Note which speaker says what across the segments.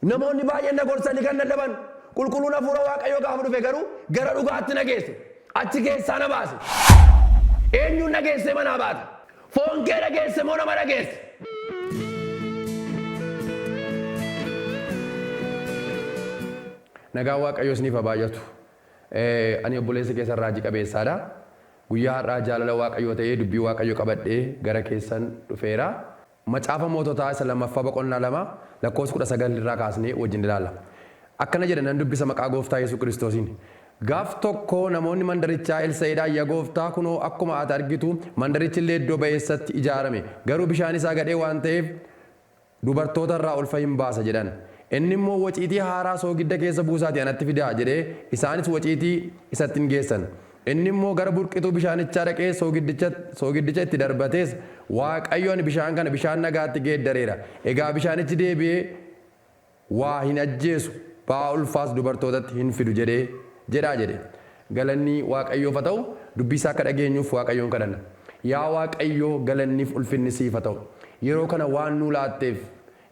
Speaker 1: Namoonni baay'een na gorsanii kan dadhaban qulqulluun hafuura Waaqayyoo gaafa dhufe garuu gara dhugaatti na geesse. Achi keessaa na baase. Eenyuun dhageessee manaa baata? Foon kee dhageesse moo nama dhageesse? Nagaan Waaqayyoo isiniif haa baay'atu. Ani obboleessa keessan Raajii Qabeessaadha. Guyyaa har'aa jaalala Waaqayyoo ta'ee dubbii Waaqayyoo qabadhee gara keessan dhufeera. Macaafa Moototaa isa lammaffaa boqonnaa 2 lakkoofsa 19 irraa kaasnee wajjin ilaalla. Akkana jedha nan dubbisa maqaa Gooftaa Yesuus Kiristoosiin. Gaaf tokko namoonni mandarichaa Elsa'idhaan ya Gooftaa kunoo akkuma ati argitu mandarichi illee iddoo ba'eessatti ijaarame garuu bishaan isaa gadhee waan ta'eef dubartoota irraa ulfa hin baasa jedhan. Inni immoo waciitii haaraa soogidda keessa buusaatii anatti fidaa jedhee isaanis waciitii isatti in geessan. Inni immoo gara burqituu bishaanichaa dhaqee soogiddicha, soogiddicha itti darbatees, Waaqayyo ani bishaan kana bishaan nagaatti geeddareera, egaa bishaanichi deebi'ee waa hin ajjeesu, ba'aa ulfaas dubartootatti hin fidu jedhe jedhaa jedhe. Galanni Waaqayyoof haa ta'u, dubbii isaa akka dhageenyuuf Waaqayyoon kadhanna. Yaa Waaqayyo galanniif ulfinni siif haa ta'u. Yeroo kana waan nuu laatteef,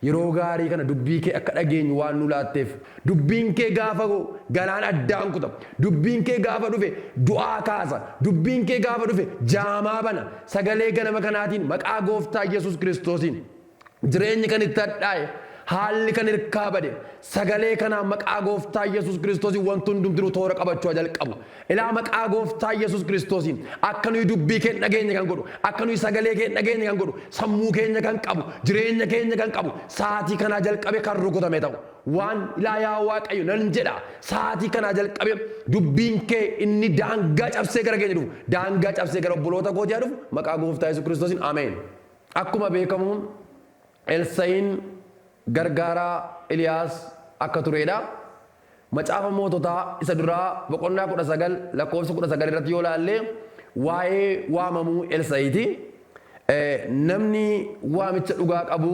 Speaker 1: Yeroo gaarii kana dubbii kee akka dhageenyu waan nu laatteef. Dubbiin kee gaafa ga'u galaan addaan kuta. Dubbiin kee gaafa dhufe du'aa kaasa. Dubbiin kee gaafa dhufe jaamaa bana. Sagalee ganama kanaatiin maqaa gooftaa Yesuus Kiristoosiin. Jireenyi kan itti hadhaa'e, haalli kan hirkaa bade. Sagalee kanaan maqaa gooftaa Yesuus Kiristoosiin wanti hundumtinuu toora qabachuu haa jalqabu. Ilaa maqaa gooftaa Yesus Kiristoosiin akka nuyi dubbii kee hin dhageenye kan godhu, akka nuyi sagalee kee hin dhageenye kan godhu, sammuu keenya kan qabu, jireenya keenya kan qabu, sa'aatii kanaa jalqabee kan rukutame ta'u. Waan ilaa yaa Waaqayyo nan jedha, sa'aatii kanaa jalqabee dubbiin kee inni daangaa cabsee gara keenya dhufu, daangaa cabsee gara obboloota kootii haa dhufu, maqaa gooftaa Yesus Kiristoosiin Ameen. Akkuma beekamu Elsa'iin gargaaraa Eliyaas akka tureedha. Macaafa Moototaa isa duraa boqonnaa 19 lakkoofsa 19 irratti yoo ilaalle waa'ee waamamuu Elsa'iti. Namni waamicha dhugaa qabu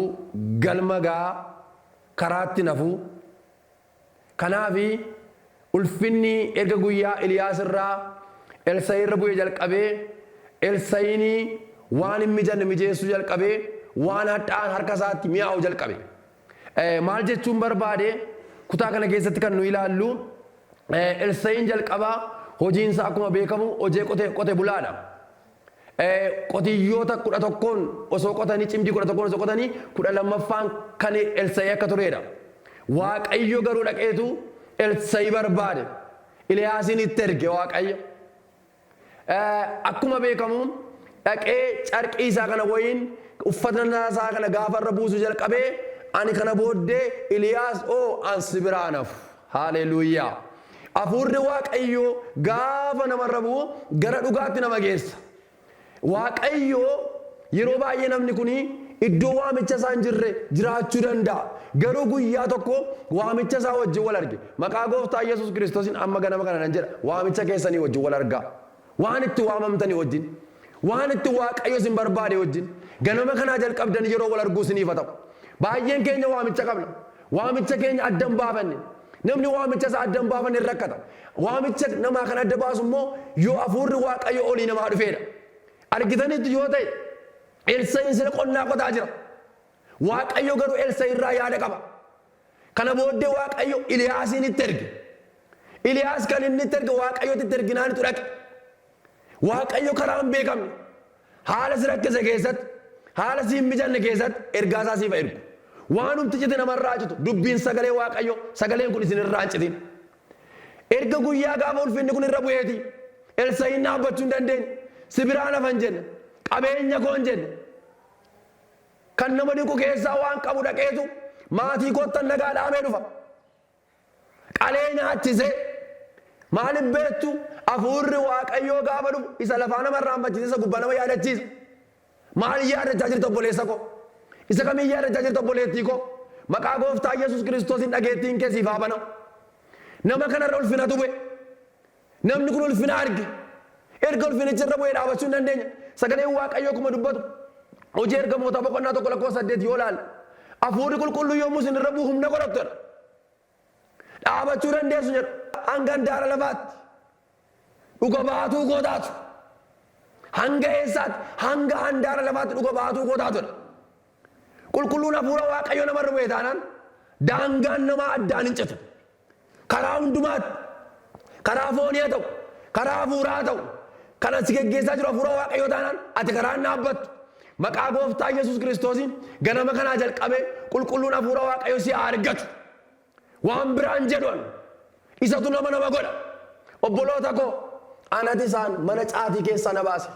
Speaker 1: galma ga'a, karaatti hin hafu. Kanaaf ulfinni erga guyyaa Eliyaas irraa Elsa'ii irra bu'ee jalqabee Elsa'iin waan hin mijanne mijeessuu jalqabe, waan hadhaa'aan harka isaatti mi'aawu jalqabe. Maal jechuun barbaade? Kutaa kana keessatti kan nu ilaallu Elsa'in jalqaba hojiin isaa akkuma beekamu hojee qote, qote bulaadha. Qotiyyoota kudha tokkoon osoo qotanii cimdii kudha tokkoon osoo qotanii kudha lammaffaan kan Elsa'ii akka tureedha. Waaqayyo garuu dhaqeetu Elsa'ii barbaade. Iliyaasiin itti erge Waaqayyo. Akkuma beekamu dhaqee carqii isaa kana woyiin uffata isaa kana gaafa irra buusu jalqabee ani kana booddee Iliyaas oo an si biraa hin hafu. Haaleluuyaa! Afuurri Waaqayyoo gaafa namarra bu'u gara dhugaatti nama geessa. Waaqayyo, Yeroo baay'ee namni kun iddoo waamicha isaa hin jirre jiraachuu danda'a. Garuu guyyaa tokko waamicha isaa wajjin wal arge. Maqaa Gooftaa Yesus Kiristosiin amma ganama kana nan jedha, waamicha keessanii wajjin wal argaa. Waan itti waamamtanii wajjin, waan itti Waaqayyo isin barbaade wajjin, ganama kanaa jalqabdanii yeroo wal arguu isiniif haa ta'u. Baay'een keenya waamicha qabna. Waamicha keenya adda hin baafanne. Namni waamicha isaa adda hin baafanne ni rakkata. Waamicha namaa kan adda baasu immoo yoo hafuurri Waaqayyo olii namaa dhufeedha. Argitaniittu yoo ta'e Elsa'iin sila qonnaa qotaa jira. Waaqayyo garuu Elsa'i irraa yaada qaba. Kana booddee Waaqayyo Iliyaasiin itti erge. Iliyaas kan inni itti erge Waaqayyotti itti erginaanitu dhaqe. Waaqayyo karaa hin beekamne, haala si rakkise keessatti, haala si hin mijanne keessatti ergaa isaa siif haa ergu. Waanumti cite nama irraa haa citu, dubbiin sagalee Waaqayyoo, sagaleen kun isin irraa hin citin. Erga guyyaa gaafa ulfinni kun irra bu'eetii Elsa'iin dhaabbachuu hin dandeenye. Si biraan hafa hin jenne, qabeenya koo hin jenne. Kan nama dinqu keessaa waan qabu dhaqeetu maatii koottan nagaa dhaamee dhufa. Qalee nyaachisee. Maaliif beektuu? Hafuurri Waaqayyoo gaafa dhufu isa lafaa nama irraanfachiisa, isa gubbaa nama yaadachiisa. Maal yaadachaa jirta obboleessa koo? Isa kamiin yaadachaa jirta obboleettii koo? Maqaa gooftaa Yesuus Kiristoosiin dhageettiin kee siif haa banamu. Nama kanarra ulfinatu bu'e. Namni kun ulfina arge. Erga ulfinichi irra bu'ee dhaabachuu hin dandeenye. Sagaleen Waaqayyoo akkuma dubbatu Hojii Ergamootaa boqonnaa 1 lakkoofsa 8 yoo ilaalle Hafuurri Qulqulluun yommuu isin irra bu'u humna godhattu jedha. Dhaabachuu dandeessu jedha. Hanga handaara lafaatti dhuga baatuu koo taatu. Hanga eessaatti? Hanga handaara lafaatti dhuga baatuu koo taatu jedha. Qulqulluun Hafuura Waaqayyoo namarra bu'e taanaan daangaan namaa addaan hin citu. Karaa hundumaatti, karaa foonii haa ta'u, karaa hafuuraa haa ta'u, kan ansi geggeessaa jiru hafuura Waaqayyoo taanaan ati karaa hin dhaabbattu. Maqaa gooftaa Yesus Kiristoosiin ganama kanaa jalqabee qulqulluun hafuura Waaqayyoo si haa argatu. Waan biraan jedhu an isatu nama nama godha. Obboloota koo anati isaan mana caatii keessaa na baase.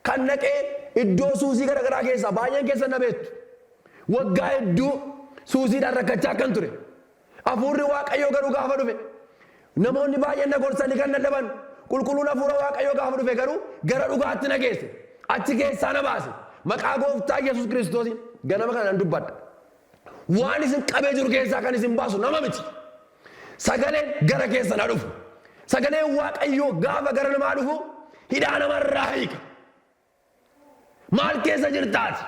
Speaker 1: Kan dhaqee iddoo suusii gara garaa keessaa baay'een keessan na beektu. Waggaa hedduu suusiidhaan rakkachaa akkan ture. Hafuurri Waaqayyoo garuu gaafa dhufe. Namoonni baay'een na gorsanii kan dadhaban qulqulluun hafuura Waaqayyoo gaafa dhufe garuu gara dhugaatti na geesse. Achi keessaa na baase. Maqaa gooftaa Yesuus Kiristoosiin ganama kana nan dubbadha. Waan isin qabee jiru keessaa kan isin baasu nama miti. Sagaleen gara keessan haa dhufu. Sagaleen Waaqayyoo gaafa gara namaa dhufu hidhaa namarraa hiika. Maal keessa jirta ati?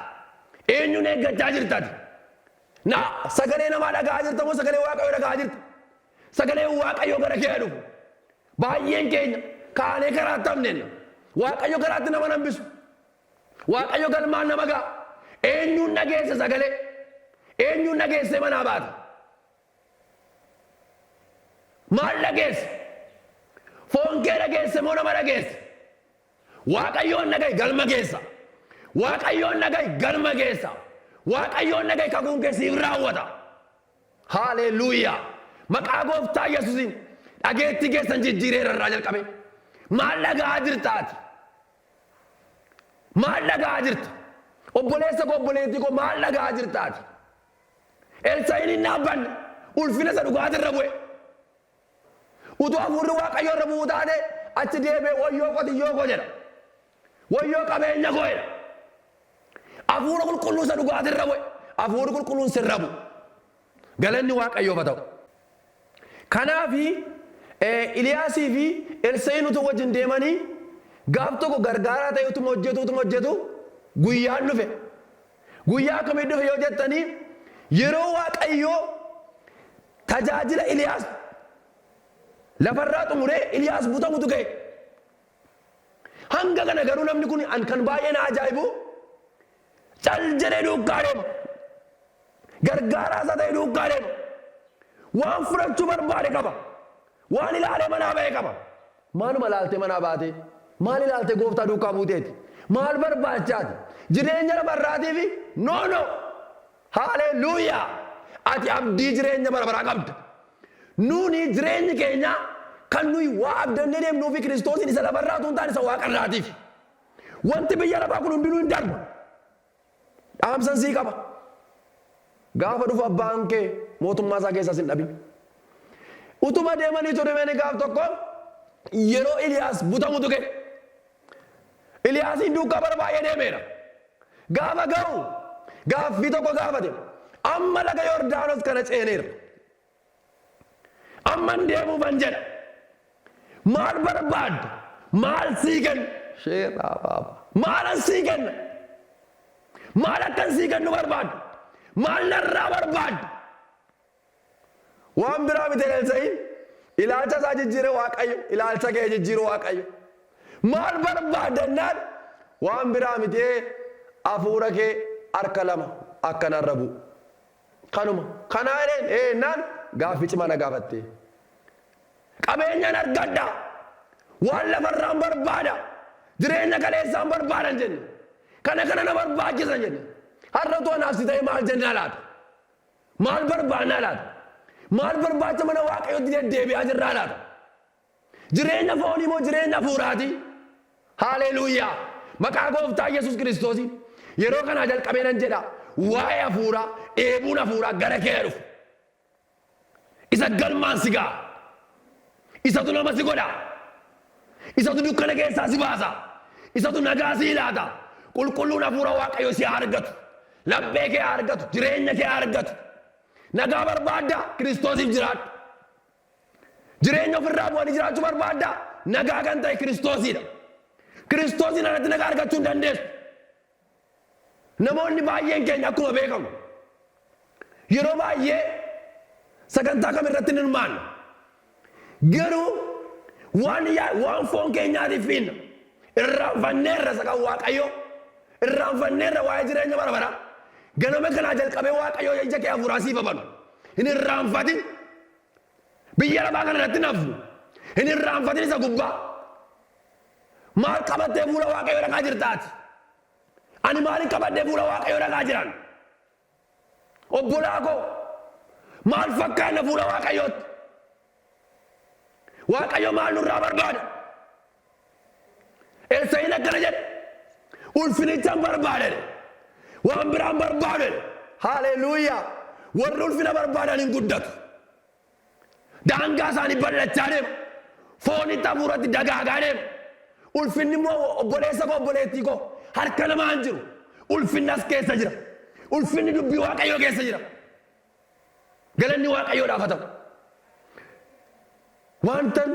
Speaker 1: Eenyuun eeggachaa jirta ati? Na sagalee namaa dhaga'aa jirta moo sagalee Waaqayyoo dhaga'aa jirta? Sagaleen Waaqayyoo gara kee haa dhufu. Baay'een keenya kaanee karaatti hafneenna. Waaqayyo karaatti nama nambisu. Waaqayyo galmaan nama ga'a. Eenyuun dhageesse sagalee? Eenyuun dhageessee manaa baata? Maal dhageesse? Foon kee dhageesse moo nama dhageesse? Waaqayyoon dhaga'i galma keessa. Waaqayyoon dhaga'i galma keessa. Waaqayyoon dhaga'i kakuun kee siif raawwata. Haaleeluuyaa! Maqaa gooftaa Yesuusiin dhageettii keessan jijjiireera irraa jalqabee. Maal dhaga'aa jirta ati? Maal dhaga'aa jirta? Obboleessa koo obboleettii koo maal dhaga'aa jirta ati? Elsaa'iin hin dhaabbanne, ulfina isa dhugaati irra bu'e. Utuu hafuurri Waaqayyoo irra bu'uu taatee achi deebi'ee wayyoo qotiyyoo koo jedha. Wayyoo qabeenya koo jedha. Hafuura qulqulluu isa dhugaati irra bu'e. Hafuurri qulqulluun sirra bu'u. Galanni Waaqayyoof haa ta'u. Kanaafi, Iliyaasii fi Elsa'iin utuu wajjin deemanii, gaaf tokko gargaaraa ta'ee utuma hojjetuu utuma hojjetuu guyyaan dhufe. Guyyaa akkamii dhufe yoo jettanii, yeroo Waaqayyo tajaajila Iliyaas lafarraa xumuree Iliyaas butamutu ga'e. Hanga kana garuu namni kun an kan baay'ee na ajaa'ibu cal jedhee duukaa deema. Gargaaraa isaa ta'e duukaa deema. Waan fudhachuu barbaade qaba. Waan ilaalee manaa ba'e qaba. Maaluma ilaaltee manaa baatee? Maal ilaaltee gooftaa duukaa buuteeti? Maal barbaachaati? Jireenya lafa irraatiifi? No no! Haaleluyyaa! Ati abdii jireenya bara baraa qabda. Nuuni jireenyi keenya kan nuyi waa abdannee deemnuufi Kiristoosiin isa lafarraa utuu hin taane isa waaqarraatiifi. Wanti biyya lafaa kun hundinuu hin darba. Dhaamsan sii qaba. Gaafa dhufu abbaan kee mootummaa isaa keessaa sin dhabin. Utuma deemaniitu Ribeeni gaaf tokko yeroo Iliyaas butamu tuqe. Eliyaasiin duukaa bara baay'ee deemeera. Gaafa ga'u gaaffii tokko gaafate. Amma laga Yordaanos kana ceeneera. Amman deemuufan jedha. Maal barbaadda? Maal sii kenna? Sheeraa baaba. Maalan sii kenna? Maal akkan sii kennu barbaadda? Maal narraa barbaadda? Waan biraa miti Elsa'in ilaalcha isaa jijjiire Waaqayyo ilaalcha kee jijjiiru Waaqayyo. Maal barbaadda jennaan waan biraa miti hafuura kee harka lama akka narra bu'u. Kanuma kanaa jedheen ee jennaan gaaffii cimaa na gaafatte. Qabeenyaan argadha waan lafarraan barbaada jireenya kaleessaan barbaadan jenne kana kana na barbaachisa jenne har'a utuu anaaf si ta'e maal jenna laata? Maal barbaannaa laata? Maal barbaacha mana Waaqayyootti deddeebi'aa jirraa laata? Jireenya foonii moo jireenya hafuuraati? Haaleeluuyaa! Maqaa gooftaa Yesus Kiristoosiin yeroo kanaa jalqabee nan jedha waa'ee hafuuraa dheebuun hafuuraa gara kee dhufu. Isa galmaan si ga'a. Isatu nama si godha. Isatu dukkana keessaa si baasa. Isatu nagaa sii laata. Qulqulluun Hafuura Waaqayyoo si haa argatu. Laphee kee haa argatu. Jireenya kee haa argatu. Nagaa barbaaddaa? Kiristoosiif jiraadhu. Jireenya ofirraa bu'anii jiraachuu barbaaddaa? Nagaa kan ta'e Kiristoosidha. Kiristoosiin alatti nagaa argachuu hin dandeessu. Namoonni baay'een keenya akkuma beekamu yeroo baay'ee sagantaa kam irratti hin hirmaannu. Garuu waan yaa- waan foon keenyaatiif fiinna. Irraanfanneerra isa kan Waaqayyoo. Irraanfanneerra waa'ee jireenya bara baraa. Ganama kanaa jalqabee Waaqayyoo ija kee hafuuraa siif habanu. Hin irraanfatin. Biyya lafaa kana irratti hin hafnu. Hin irraanfatin isa gubbaa. Maal qabattee fuula Waaqayyoo dhaqaa jirta ati? Ani maalin qabadhee fuula Waaqayyoo dhaqaa jiran? Obbolaa koo maal fakkaanna fuula Waaqayyootti? Waaqayyo maal nurraa barbaada? Eessayin akkana jedhe. Ulfinichan barbaade. Waan biraan barbaade. Haaleluuyaa. Warri ulfina barbaadan hin guddatu. Daangaa isaanii bal'achaa deema. Foonitti hafuuratti dagaagaa deema. Ulfinni immoo obboleessa koo obboleettii koo harka namaa hin jiru. Ulfinni as keessa jira. Ulfinni dubbii waaqayyoo keessa jira. Galanni Waaqayyoodhaaf haa ta'u. Waantan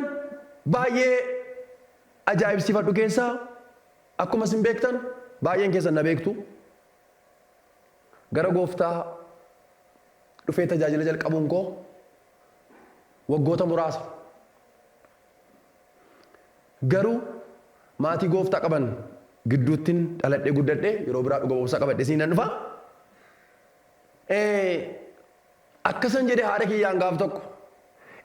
Speaker 1: baay'ee ajaa'ibsiifadhu keessaa akkuma isin beektan baay'een keessan na beektu gara gooftaa dhufee tajaajila jalqabuun koo waggoota muraasa. Garuu maatii gooftaa qaban gidduuttin dhaladhee guddadhe yeroo biraa dhuga ba'umsa qabadhe siin nan dhufa. Ee, akkasan jedhe haadha kiyyaan gaaf tokko.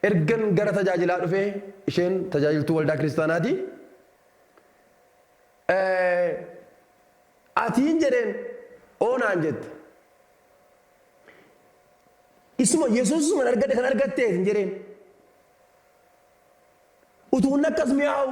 Speaker 1: Ergan gara tajaajilaa dhufee, isheen tajaajiltuu waldaa kiristaanaati. Ee, atiin jedheen, oo naan jette. Isuma Yesuusuman argadhe kan argattee hin jedheen. Utuu inni akkas mi'aawu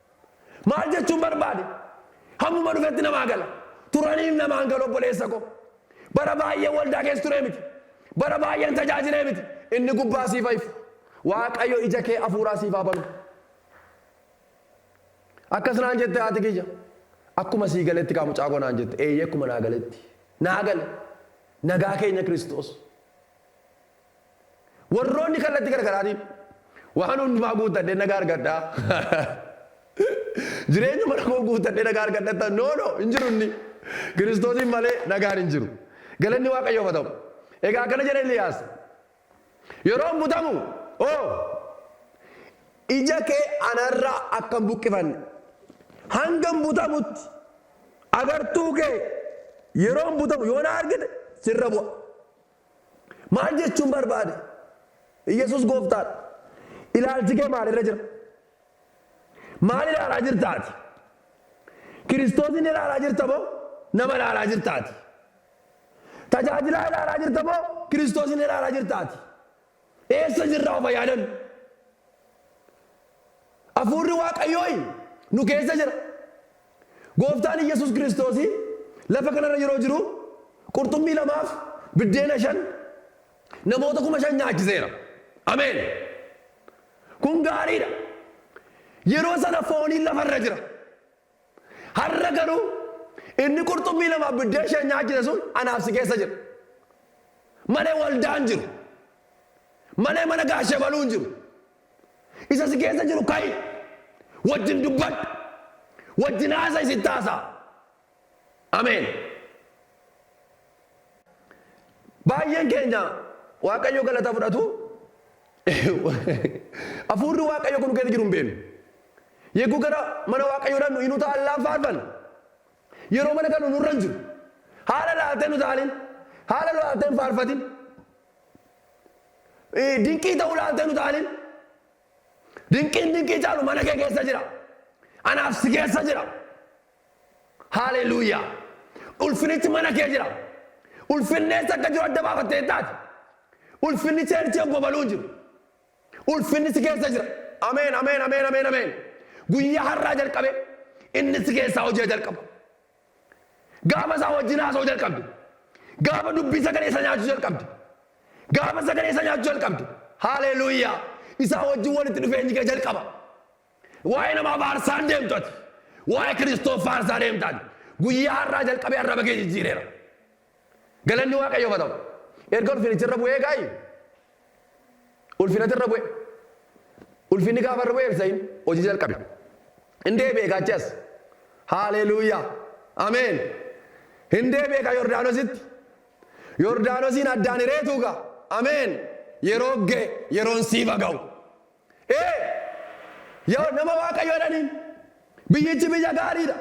Speaker 1: Maal jechuun barbaade? Hammuma dhufetti namaa gala. Turaniif namaan galu obboleessa koo. Bara baay'een waldaa keessa turee miti. Bara baay'een tajaajilee miti. Inni gubbaa siif haa ifu. Waaqayyo ija kee hafuuraa siif haa banu. Akkas naan jette haati kiyya. Akkuma sii galetti kaa mucaa koo naan jette. Eeyyee akkuma naa galetti. Naa gale. Nagaa keenya Kiristoos. Warroonni kallatti gargaraatiin waan hundumaa guuttadhee nagaa argadhaa. Jireenya mana koo guuttadhee nagaa argadhattan no no hin jiru inni. Kiristoosiin malee nagaan hin jiru. Galanni Waaqayyoof haa ta'u. Egaa akkana jedhe Eliyaas. Yeroon butamu oo ija kee anarraa akka hin buqqifanne hanga hin butamutti agartuu kee yeroon butamu yoo na argite sirra bu'a. Maal jechuun barbaade? Iyyasuus gooftaadha. Ilaalchi kee maalirra jira? Maal ilaalaa jirta ati? Kiristoosin ilaalaa jirta moo nama ilaalaa jirta ati? Tajaajilaa ilaalaa jirta moo Kiristoosin ilaalaa jirta ati? Eessa jirra of haa yaadannu. Hafuurri Waaqayyooy nu keessa jira. Gooftaan Iyyesuus Kiristoos lafa kanarra yeroo jiru qurxummii lamaaf biddeena shan namoota kuma shan nyaachiseera. Ameen! Kun gaariidha. Yeroo sana fooniin lafarra jira. Har'a garuu inni qurxummii lamaaf biddeen ishee nyaachise sun anaaf si keessa jira. Malee waldaa hin jiru. Malee mana gaashee baluu hin jiru. Isa si keessa jiru ka'i. Wajjin dubbadhu. Wajjin haasa'isi itti haasa'a. Ameen. Baay'een keenya Waaqayyo galata fudhatu Hafuurri Waaqayyo kun keessa jiru hin beeknu. Yegguu gara mana Waaqayyo dhannu hin utaallaan faarfanna. Yeroo mana gallu nurra hin jiru. Haala laaltee hin utaalin. Haala laaltee hin faarfatin. Dinqii ta'uu laaltee hin utaalin. Dinqiin dinqii caalu mana kee keessa jira. Anaaf si keessa jira. Haaleluyyaa! Ulfinichi mana kee jira. Ulfinni eessa akka jiru adda baafattee hin taate. Ulfinni cheerchii obbo Baluu hin jiru. Ulfinni si keessa jira. Ameen, ameen, ameen, ameen, ameen. Guyyaa har'aa jalqabee inni si keessaa hojii jalqaba. Gaafa isaa wajjin haasa'uu jalqabde. Gaafa dubbii sagalee isa nyaachuu jalqabde. Gaafa sagalee isa nyaachuu jalqabde. Haaleluyyaa! Isaa wajjin walitti dhufeenyi kee jalqaba. Waa'ee nama abaarsaa hin deemtu ati. Waa'ee Kiristoos faarsaa deemta ati. Guyyaa har'aa jalqabee arraba kee jijjiireera. Galanni Waaqayyoof haa ta'u. Erga ulfinichi irra bu'ee gaa'i. Ulfinatu irra bu'e. Ulfinni gaafa irra bu'e Elsaa'iin hojii jalqabe. Hin deebi'e gaachi as. Haaleluuyaa. Ameen. Hin deebi'e gaa Yordaanositti. Yordaanosiin addaan hireetuu gaa. Ameen. Yeroo ga'e yeroon siif haa ga'u. Ee, yaa nama Waaqayyoo jedhaniin. Biyyichi biyya gaarii dha.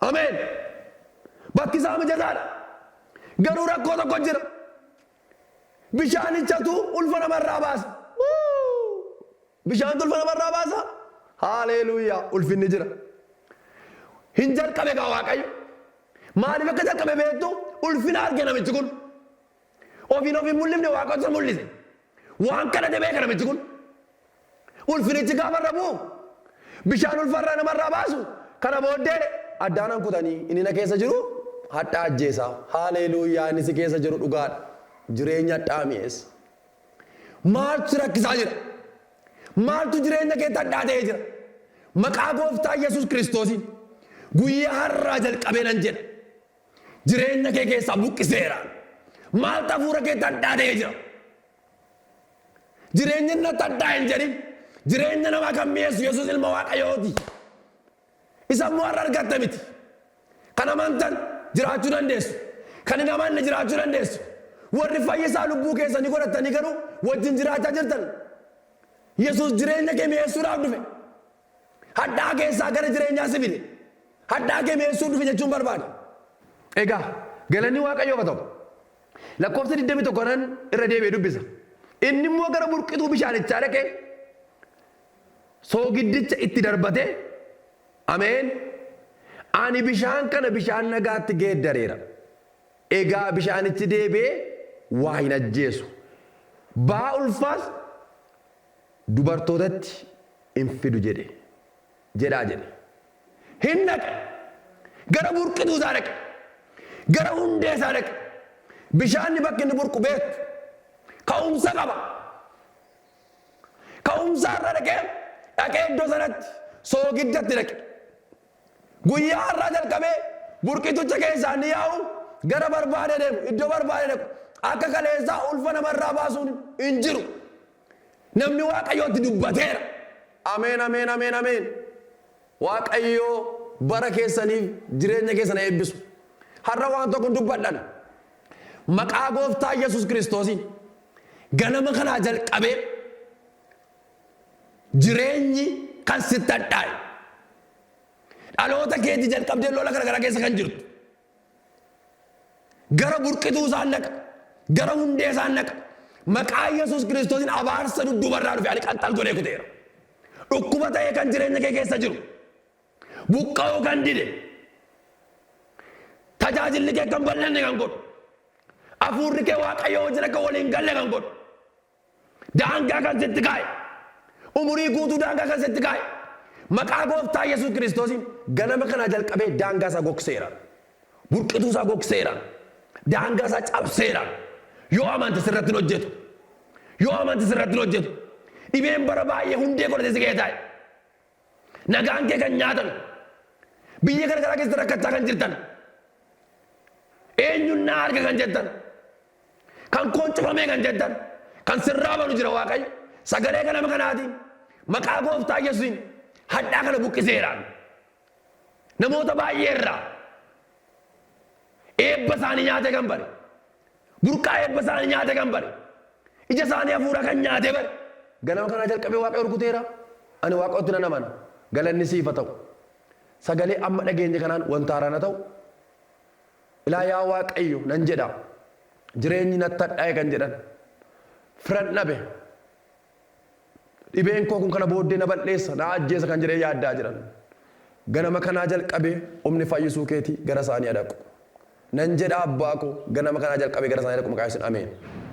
Speaker 1: Ameen. Bakki isaa mijataa dha. Garuu rakkoo tokko jira. Bishaanichatu ulfa nama irraa baasa. Wuu! Bishaantu ulfa nama irraa baasa. Haaleeluuyaa! Ulfinni jira. Hin jalqabe gaa Waaqayyo. Maaliif akka jalqabe beektu ulfina arge namichi kun. Ofiin of hin mul'ifne Waaqatu isa mul'ise. Waan kadhate beeka namichi kun. Ulfinichi gaafa irra bu'u bishaan ulfarraa namarraa baasu kana booddee addaan an kutanii inni na keessa jiru hadhaa ajjeesaa. Haaleeluuyaa inni si keessa jiru dhugaadha. Jireenya hadhaa mi'eessa. Maaltu si rakkisaa jira? Maaltu jireenya keetti hadhaa ta'ee jira? Maqaa gooftaa Yesuus Kiristoosiin guyyaa har'aa jalqabee nan jedha. Jireenya kee keessaa buqqiseera. Maaltu hafuura keetti hadhaa ta'ee jira? Jireenya inni natti hadhaa hin jedhin. Jireenya namaa kan mi'eessu Yesuus ilma Waaqayyooti. Isa immoo har'a argatta miti. Kan amantan jiraachuu dandeessu. Kan hin amanne jiraachuu dandeessu. Warri fayyisaa lubbuu keessanii godhattanii garuu wajjin jiraachaa jirtan. Yesuus jireenya kee mi'eessuudhaaf dhufe. Hadhaa keessaa gara jireenyaa si fide. Hadhaa kee mi'eessuu dhufe jechuun barbaada. Egaa galanni Waaqayyoof haa ta'u. Lakkoofsa 21 nan irra deebi'e dubbisa. Inni immoo gara burqituu bishaanichaa dhaqee soogiddicha itti darbatee, Ameen! Ani bishaan kana bishaan nagaatti geeddareera. Egaa bishaanichi deebi'ee waa hin ajjeesu. Ba'aa ulfaas dubartootatti in fidu jedhe. jedhaa jedhe. Hin dhaqe. Gara burqituu isaa dhaqe. Gara hundee isaa dhaqe. Bishaanni bakki inni burqu beektu. Ka'umsa qaba. Ka'umsa irra dhaqee dhaqee iddoo sanatti soogiddatti dhaqe. Guyyaa har'aa jalqabee burqitucha keessaa ni yaa'u, gara barbaade deemu, iddoo barbaade dhaqu. Akka kaleessaa ulfa namarraa baasuun hin jiru. Namni Waaqayyoo itti dubbateera. Ameen, ameen, ameen, ameen. Waaqayyo bara keessaniif jireenya keessan haa eebbisu. Har'a waan tokkon dubbadhan. Maqaa gooftaa Yesus Kiristoosiin ganama kanaa jalqabee Jireenyi kan sitti hadhaa'e. Dhaloota keetii jalqabdee lola garagaraa keessa kan jirtu. Gara burqituu isaan dhaqa. Gara hundee isaan dhaqa. Maqaa Yesuus Kiristoosiin abaarsa dudduuba irraa dhufe ani qaxxal godhee kuteera. Dhukkuba ta'ee kan jireenya kee keessa jiru. Buqqa'uu kan dide. Tajaajilli kee kan bal'anne kan godhu. Afuurri kee Waaqayyoo wajjin akka waliin galle kan godhu. Daangaa kan sitti kaa'e. Umurii guutuu daangaa kan sitti kaa'e. Maqaa gooftaa Yesuus Kiristoosiin ganama kanaa jalqabee daangaa isaa gogseera. Burqituu isaa gogseera. Daangaa isaa cabseera. Yoo amante sirratti hin hojjetu. Yoo amante sirratti hin hojjetu. Dhibeen bara baay'ee hundee godhatee si ga'ee taa'e. Nagaan kee kan nyaatame. Biyya garagaraa keessatti rakkachaa kan jirtan. Eenyuun naa arga kan jettan. Kan koon cufamee kan jettan. Kan sirraa banu jira Waaqayyo. Sagalee kana nama kanaatiin maqaa gooftaa Yesuusiin hadhaa kana buqqiseeraan. Namoota baay'ee irraa eebba isaanii nyaatee kan bare. Burqaa eebba isaanii nyaate kan bare. Ija isaanii hafuuraa kan nyaate bare. Ganama kanaa jalqabee Waaqayyo rukuteera. Ani Waaqayyotti nan amana. Galanni siif haa ta'u. Sagalee amma dhageenye kanaan wanta haaraan haa ta'u. Ilaa yaa Waaqayyo nan jedha. Jireenyi natti hadhaa'e kan jedhan. Firan dhabe. Dhibeen koo kun kana booddee na bal'eessa, na ajjeesa kan jedhee yaaddaa jiran. Ganama kanaa jalqabee humni fayyisuu keetii gara isaanii haa dhaqu. Nan jedha Abbaa koo, ganama kanaa jalqabee gara isaanii haa dhaqu maqaa Yesuusin Ameen.